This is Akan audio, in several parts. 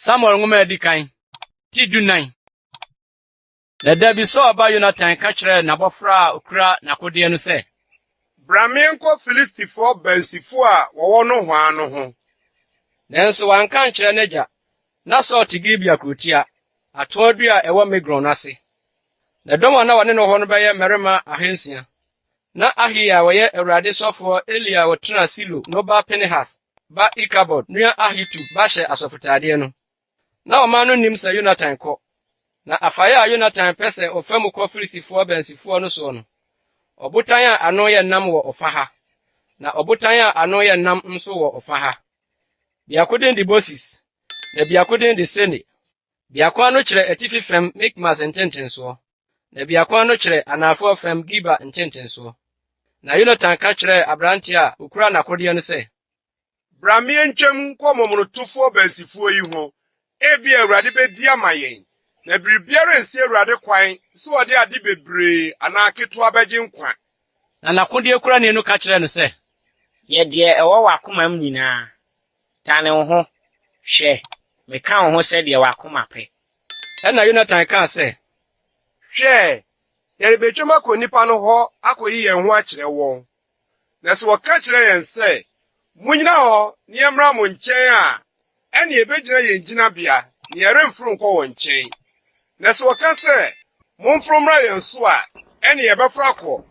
Samuel nwoma a edi kan ti dunnan. Na da bi Saul ba Yonatan ka kyerɛɛ n'abɔfra a okura n'akodeɛ no sɛ, Bra menkɔ Filistifoɔ bansifo a wɔwɔ nohoa no ho. Nanso wanka ankyerɛ n'agya, Ná Saul te Gibea kurotia, atoo adua a ɛwɔ Migron no ase. Na dɔm a na wɔne no wɔ hɔ no bɛyɛ mmarima ahansia. Ná Ahiya a ɔyɛ Awurade sɔfo a Eli a ɔtenaa Silo no ba Pinehas ba Ikabod nua Ahitub ba hyɛ asɔfotadeɛ no. Ná ɔman no nnim sɛ Yonatan kɔ, na afaeɛ a Yonatan pɛ sɛ ɔfa mu kɔ Filistifoɔ abansifoɔ no soɔ no, ɔbotan a ano yɛ nnam wɔ ɔfã ha, na ɔbotan a ano yɛ nnam nso wɔ ɔfã ha. Biako din de Moses, na biako din de Sene. Biako ano kyerɛ atifi fam Mikmas ntentensoɔ, na biako ano kyerɛ anaafoɔ fam Giba ntentensoɔ. Na Yonatan ka kyerɛɛ aberanteɛ a ɔkura n'akodeɛ no sɛ, Bra meɛntwam nkɔ momonotofoɔ bansifoɔ yi ho Ebia Awurade bɛdi ama yɛn, na biribiara nsi Awurade kwan sɛ ɔde ade bebree anaa ketewa bɛgye nkwa. Na n'akodeɛ kurani no ka kyerɛɛ no sɛ. Yɛ deɛ ɛwɔ w'akomam nyinaa, dane wo ho, hwɛ, meka wo ho sɛ deɛ w'akoma pɛ. Ɛnna Yonatan kaa sɛ. Hwɛ, yɛrebɛtwam akɔ nnipa no hɔ akɔyi yɛn ho akyerɛ wɔn. Na sɛ wɔka kyerɛ yɛn sɛ, 'Munnyina hɔ na yɛmmra mo nkyɛn' a, ɛnneɛ yɛbɛgyina yɛn gyinabea, na yɛremforo nkɔ wɔn nkyɛn. Na sɛ wɔka sɛ, 'Momforo mmra yɛn so' a, ɛnneɛ yɛbɛforo akɔ,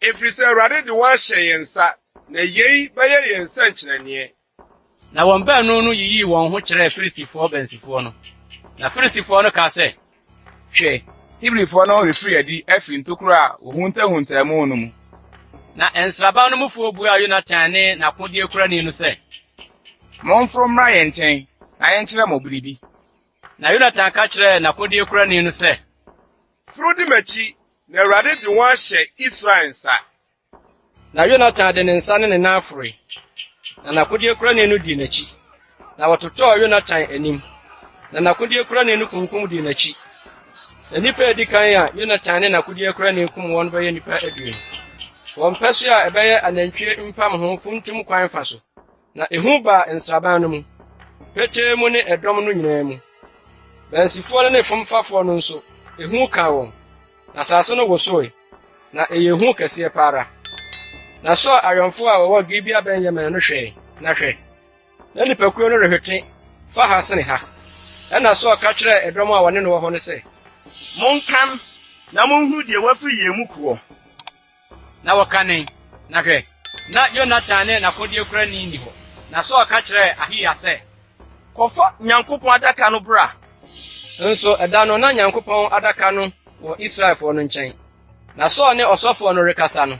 ɛfiri sɛ Awurade de wɔn ahyɛ yɛn nsa, na yei bɛyɛ yɛn nsɛnkyerɛnneɛ. Na wɔn baanu no yiyii wɔn ho kyerɛɛ Filistifo ɔbansifo no. Na Filistifo no kaa sɛ, Hwɛ! Hebrifo no refiri adi afi ntokuru a wɔhuntahuntaa mu no mu. Na nsraban no mufo buaa Yonatan ne n'akodeɛkurani no sɛ, Momforo mmra yɛn nkyɛn na yɛnkyerɛ mo biribi. Na Yonatan ka kyerɛɛ n'akodeɛkurani no sɛ. Foro di m'akyi, na Awurade de wɔn ahyɛ Israel nsa. Na Yonatan de ne nsa ne ne nan aforoe, na n'akodeɛkurani no dii n'akyi, na wɔtotɔɔ Yonatan anim, na n'akodeɛkurani no kunkum dii n'akyi. Na nnipa a edi kan a Yonatan ne n'akodeɛkurani kum wɔn no bɛyɛ nnipa aduonu. Wɔn mpasua a ɛbɛyɛ anantwie mpamho funtum kwan fa so. Na ehu baa nsraban no mu, petee mu ne ɛdɔm no nyinaa mu. Bansifoɔ no ne fomfafoɔ no nso, ehu kaa wɔn, na asase no wosoe, na ɛyɛ hu kɛseɛ pa ara. Na Saul awɛmfoɔ a wɔwɔ Gibea Benyamin no hwɛe, na hwɛ! na nnipakuo no rehwete fa ha sene ha. Ɛnna Saul ka kyerɛɛ ɛdɔm a wɔne no wɔ hɔ no sɛ, Monkan na monhunu deɛ wafiri yɛn mu koɔ. Na wɔkanee, na hwɛ! na Yonatan ne n'akodeɛkurani nni hɔ. Na Saul ka kyerɛɛ Ahiya sɛ, Kɔfa Nyankopɔn Adaka no bra. Nso ɛda no, na Nyankopɔn Adaka no wɔ Israelfoɔ no nkyɛn. Na Saul ne ɔsɔfoɔ no rekasa no,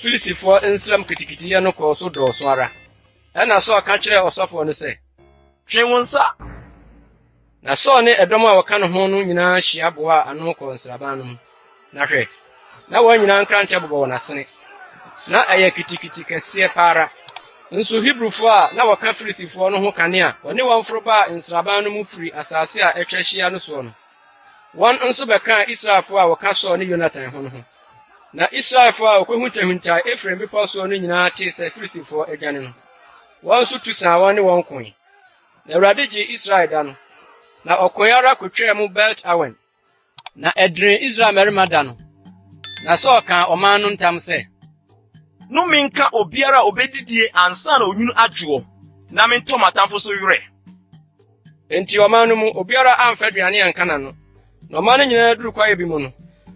Filistifoɔ nsram kitikitiyɛ no kɔɔ so dɔɔso ara. Ɛnna Saul ka kyerɛɛ ɔsɔfoɔ no sɛ, Twe wo nsa! Na Saul ne ɛdɔm a wɔka ne ho no nyinaa hyia boaa ano kɔɔ nsraban no mu. Na hwɛ, na wɔn nyinaa nkrankyɛ bobɔ wɔn asene. Na ɛyɛ kitikiti kɛseɛ pa ara. Nso Hebrifoɔ a na wɔka Filistifoɔ no ho kane a wɔne wɔn foro baa nsraban no mu firii asase a atwa ahyia no soɔ no, wɔn nso bɛkaa Israelfoɔ a wɔka Saul ne Yonatan ho no ho. Na Israelfoɔ a wɔkɔhuntahuntaae Efraim bepɔ soɔ no nyinaa tee sɛ Filistifoɔ adwane no, wɔn nso tu saa wɔn ne wɔn koe. Na Awurade gyee Israel da no, na ɔkoe ara kotwaa mu Belt-Awen. Na ɛdenee Israel mmarima da no, na Saul kaa ɔman no ntam sɛ. Nnome nka obiara a obedidie ansa na onwunu adwoɔ, na mentɔ m'atamfo so werɛ. Enti ɔman no mu obiara amfa aduane anka n'ano. Na ɔman no nyinaa duruu kwaeɛ bi mu no,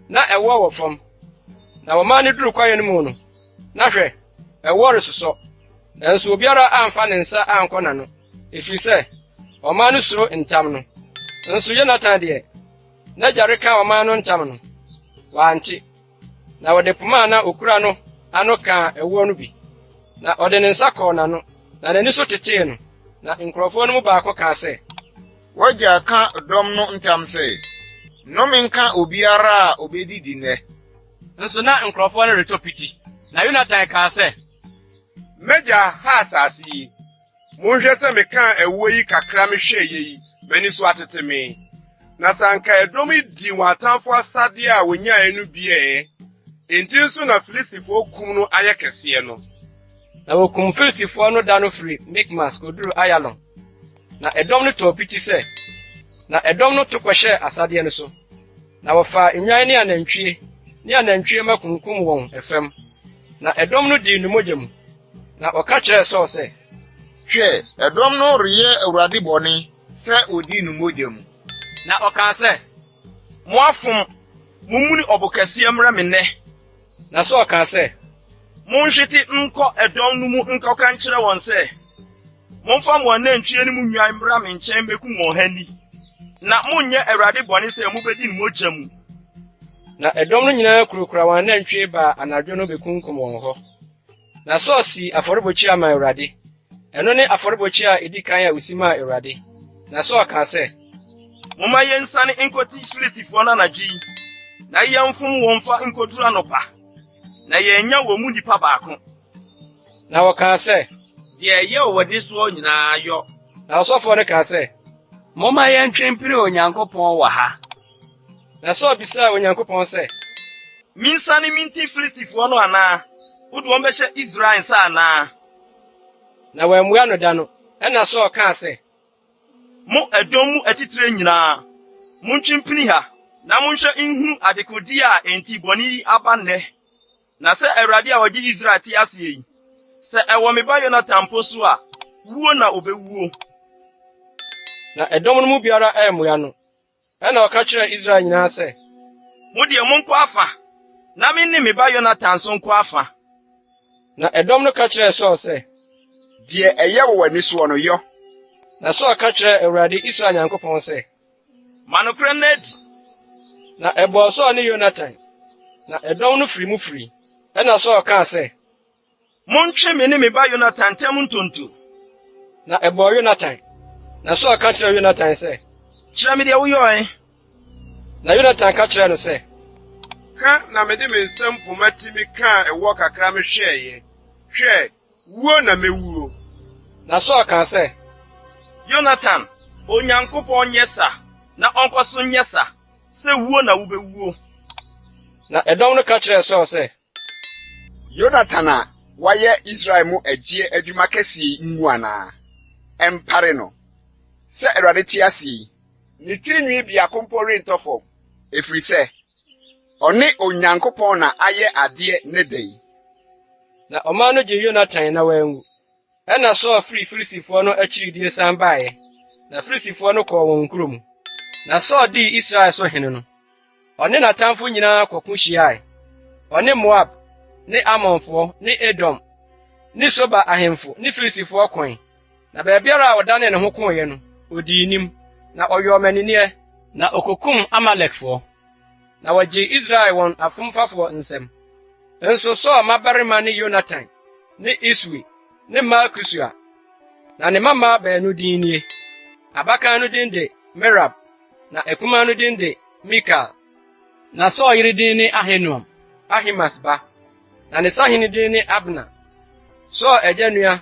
na ɛwoɔ wɔ fam, na wɔmaa no duruu kwaeɛ no mu no, Na hwɛ! ɛwoɔ resosɔ, nanso obiara amfa ne nsa ankɔ n'ano, ɛfiri sɛ ɔman no suro ntam no. Nso Yonatan deɛ, n'agya reka ɔman no ntam no, wante, na ɔde poma a na ɔkura no ano kaa ɛwoɔ no bi, na ɔde ne nsa kɔɔ n'ano, na n'ani so tetee no. Na nkurɔfoɔ no mu baako kaa sɛ, W'agya ka dɔm no ntam sɛ, Nnome nka obiara a obedidi nnɛ! Nso na nkurɔfoɔ no retɔ piti, na Yonatan kaa sɛ. M'agya ha asase yi. Monhwɛ sɛ mekaa ɛwoɔ yi kakra mehwɛeɛ yi, m'ani so atete me. Na sɛ anka ɛdɔm yi dii wɔn atamfoɔ asadeɛ a wɔnyaeɛ no bi ɛ! Enti nso na Filistifoɔ kum no ayɛ kɛseɛ no. Na wɔkum Filistifoɔ no da no firi Mikmas kɔduruu Ayalon, Na ɛdɔm no tɔɔ piti sɛ, na ɛdɔm no to kɔhyɛɛ asadeɛ no so, na wɔfaa nnwan ne anantwie ne anantwie mma kunkum wɔn fam, na ɛdɔm no dii ne mogya mu. Na wɔka kyerɛɛ Saul sɛ. Hwɛ, ɛdɔm no reyɛ Awurade bɔne sɛ wɔdii no mogya mu. Na ɔkaa sɛ, Moafom! Mommuni ɔbo kɛseɛ mmrɛ me nnɛ. Na Saul kaa sɛ, Monhwete nkɔ ɛdɔm no mu nkɔka nkyerɛ wɔn sɛ, 'Momfa mo anantwie ne mo nnwan mmra me nkyɛn mmekum wɔn ha nni, na monnyɛ Awurade bɔne sɛ mubedi ne mogya mu. Na ɛdɔm no nyinaa kurakura wɔn anantwi baa anadwo no bekunkum wɔn hɔ. Na Saul sii afɔrebukyia maa Awurade. Ɛno ne afɔrebukyia a edi kan a osi maa Awurade. Na Saul kaa sɛ, Momma yɛnsane nkɔti Filistifoɔ no anadwo yi, na yɛmfom wɔn mfa nkɔduru anɔpa, na yɛanya wɔn mu nipa baako. Na wɔkaa sɛ, Deɛ ɛyɛ wɔ w'ani soɔ nyinaa yɔ. Na ɔsɔfoɔ no kaa sɛ, Momma yɛntwe mpere Onyankopɔn wɔ ha. Na Saul bisaa Onyankopɔn sɛ, Mensiane minti Filistifoɔ no anaa? Wode wɔn bɛhyɛ Israel nsa anaa? Na wammua no da no. Ɛnna Saul kaa sɛ, Mo ɛdɔm mu atitire nyinaa, montwe mpini ha na monhwɛ nhunu adekodeɛ a enti bɔne yi aba nnɛ. Na sɛ Awurade a ɔgye Israel te aseɛ yi, sɛ ɛwɔ me ba Yonatan mpo so a, wuo na ɔbɛwuo. Na ɛdɔm no mu biara ammua no. Ɛnna ɔka kyerɛɛ Israel nyinaa sɛ, Mo deɛ, monkɔ afã, na me ne me ba Yonatan nso nkɔ afã. Na ɛdɔm no ka kyerɛɛ Saul sɛ, Deɛ ɛyɛ wɔ w'ani soɔ no, yɔ. Na Saul ka kyerɛɛ Awurade, Israel Nyankopɔn sɛ. Ma nokorɛ nna adi. Na ɛbɔɔ Saul ne Yonatan, na ɛdɔm no firii mu firii. Ɛnna Saul kaa sɛ, Montwe me ne me ba Yonatan ntam ntonto. Na ɛbɔɔ Yonatan, na Saul ka kyerɛɛ Yonatan sɛ, Kyerɛ me deɛ woyɔe. Na Yonatan ka kyerɛɛ no sɛ, Ka na mede me nsam poma ti me kaa ɛwoɔ kakra me hwɛeɛ, hwɛ, wuo na mɛwuo. Na Saul kaa sɛ, Yonatan, Onyankopɔn nyɛ sa, na ɔnkɔ so nyɛ sa, sɛ wuo na wobɛwuo. Na ɛdɔm no ka kyerɛɛ Saul sɛ, Yonatan a wayɛ Israel mu agyeɛ adwuma kɛseɛ yi mmu anaa? Ɛmpare no! Sɛ Awurade te ase yi, ne tiri nwi biako mpo rentɔ fam, ɛfiri sɛ ɔne Onyankopɔn na ayɛ adeɛ ne dɛn? Na ɔman no gyee Yonatan na wanwu. Ɛnna Saul firii Filistifoɔ no akyiridie san baeɛ, na Filistifoɔ no kɔɔ wɔn nkuro mu. Na Saul dii Israel so hene no, ɔne n'atamfo nyinaa kɔko hyiae, ɔne Moab ne Amonfoɔ ne Edom ne Soba ahemfo ne Filistifoɔ koe, na baabiara a ɔdanee ne ho koeɛ no, ɔdii nim, na ɔyɔɔ mmanineɛ, na ɔkɔkum Amalekfoɔ. na wɔgyee Israel wɔn afomfafoɔ nsam. Nso Saul mmabarima ne Yonatan ne Iswi ne Malkisua. Na ne mmammaa baanu din nie, abakan no din de Merab, na akumaa no din de Mikal. Na Saul yere din ne Ahinoam, Ahimaas ba, na ne sahene din ne Abner, Saul agya nua